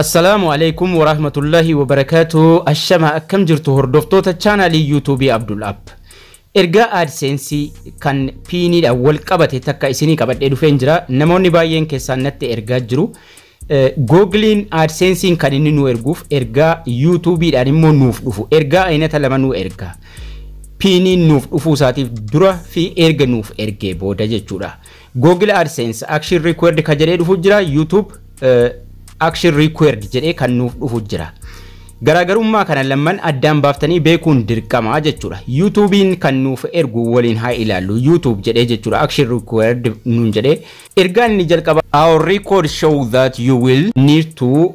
Assalaamu Aleykum Warahmatullahi Wabarakaatuh Ashama akkam jirtu hordoftoota chaanaalii YouTube Abdul App. Ergaa AdSense kan piiniidhaan wal qabate takka isinii qabadhee dhufeen jira. Namoonni baay'een keessaan natti ergaa jiru. Googiliin AdSense'n kan inni nu erguuf ergaa YouTube'dhaan immoo nuuf dhufu. Ergaa aynata lama nu erga. Piiniin nuuf dhufuu isaatiif dura fi erga nuuf ergee booda jechuudha. Google AdSense action required ka jedhee dhufu jira. YouTube eh, action required jedhee kan nuuf dhufu jira. Garaagarummaa kana lamman addaan baaftanii beekuun dirqama jechuudha. YouTube'n kan nuuf ergu waliin haa ilaallu. YouTube jedhee jechuudha action required nuun jedhee. Ergaan inni jalqaba our record show that you will need to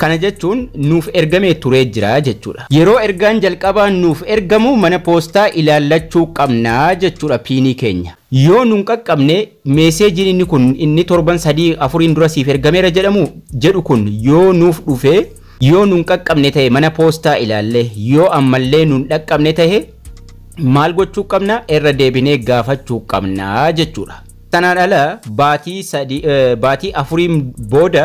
Kana jechuun nuuf ergamee turee jira jechuudha. Yeroo ergaan jalqabaa nuuf ergamu mana poostaa ilaallachuu qabna jechuudha piinii keenya. Yoo nun qaqqabne meeseejiin inni kun inni torban sadii afuriin dura siif ergameera jedhamu jedhu kun yoo nuuf dhufe yoo nun qaqqabne ta'e mana poostaa ilaalle yoo ammallee nun dhaqqabne ta'e maal gochuu qabna irra deebinee gaafachuu qabna jechuudha. Sanaan ala baatii sadii eh, baatii afuriin booda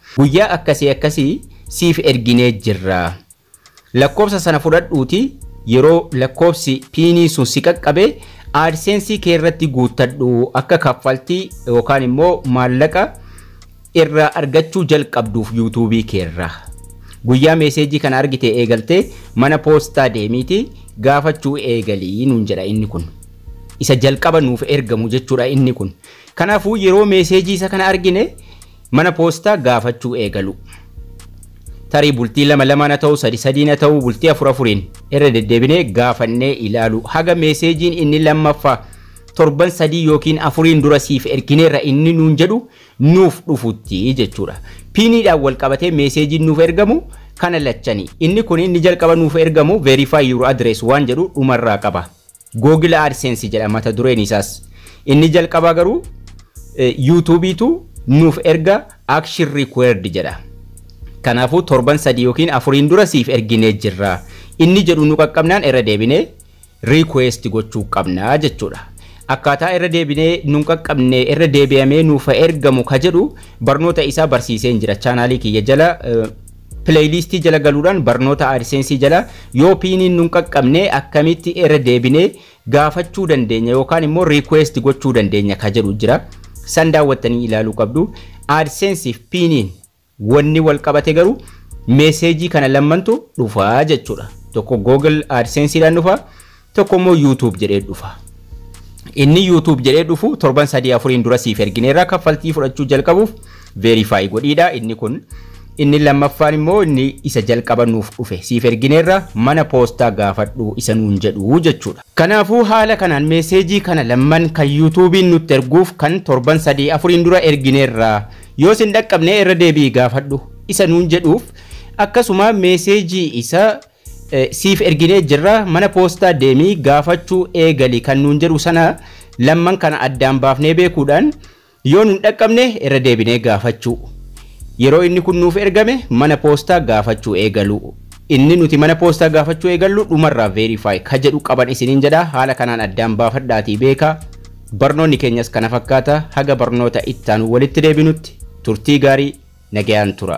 Guyyaa akkasii akkasii siif erginee jirra. Lakkoofsa sana fudhadhuutii yeroo lakkoofsi piinii sun si qaqqabe AdSense kee irratti guuttadhu akka kaffaltii yookaan immoo maallaqa irraa argachuu jalqabduuf yuutuubii kee irraa. Guyyaa meeseejii kana argitee eegaltee mana poostaa deemiitii gaafachuu eegalii nuun jedha inni kun. Isa jalqaba nuuf ergamu jechuudha inni kun. Kanaafuu yeroo meeseejii isa kana argine mana poostaa gaafachuu eegaluu. Tarii bultii lama lamaan haa ta'u, sadi sadiin haa ta'u, bultii afur afuriin irra deddeebinee gaafannee ilaaluu. Haga meeseejiin inni lammaffaa torban sadii yookiin afuriin dura siif ergineerra inni nuun jedhu nuuf dhufutti jechuudha. Piiniidhaan wal qabatee meeseejiin nuuf ergamu kana lachani. Inni kun inni jalqaba nuuf ergamu verify your address waan jedhu dhumarraa qaba. Google AdSense jedha mata dureen isaas. Inni jalqabaa garuu yuutuubiitu nuuf erga action required jedha. Kanaafuu torban sadii yookiin afuriin dura siif erginee jirra. Inni jedhu nu qaqqabnaan irra deebinee request gochuu qabna jechuudha. Akkaataa irra deebinee nun qaqqabne irra deebi'amee nuuf ergamu ka jedhu barnoota isaa barsiiseen jira chaanaalii kiyya jala Playlistii jala galuudhaan barnoota AdSense jala yoo piiniin nun qaqqabne akkamitti irra deebinee gaafachuu dandeenya yookaan immoo request gochuu dandeenya ka jedhu jira. San daawwattanii ilaaluu qabdu. AdSense fi piiniin wanni wal qabate garuu meeseejii kana lammantu dhufa jechuudha. Tokko Google AdSense dhaan dhufa. tokko immoo YouTube jedhee dhufa. Inni YouTube jedhee dhufu torban sadii afuriin dura siif ergineerra kaffaltii fudhachuu jalqabuuf verify godhiidha inni kun. Inni lammaffaan immoo inni isa jalqaba nuuf dhufe siif ergineerra mana poostaa gaafadhu isa nuun jedhu jechuudha. Kanaafuu haala kanaan meeseejii kana lamman kan yuutuubiin nutti erguuf kan torban sadii afuriin dura ergineerra yoo sin dhaqqabne irra deebi'i gaafadhu isa nuun jedhuuf akkasuma meeseejii isa siif erginee jirra mana poostaa deemii gaafachuu eegali kan nuun jedhu sana lamman kana addaan baafnee beekuudhaan yoo nun dhaqqabne irra deebinee gaafachuu yeroo inni kun nuuf ergame mana poostaa gaafachuu eegalu inni nuti mana poostaa gaafachuu eegallu dhumarraa veerifaayi ka jedhu qaban isiniin jedha haala kanaan addaan baafadhaatii beeka barnoonni keenyas kana fakkaata haga barnoota ittaanu walitti deebinutti turtii gaarii nagayaan tura.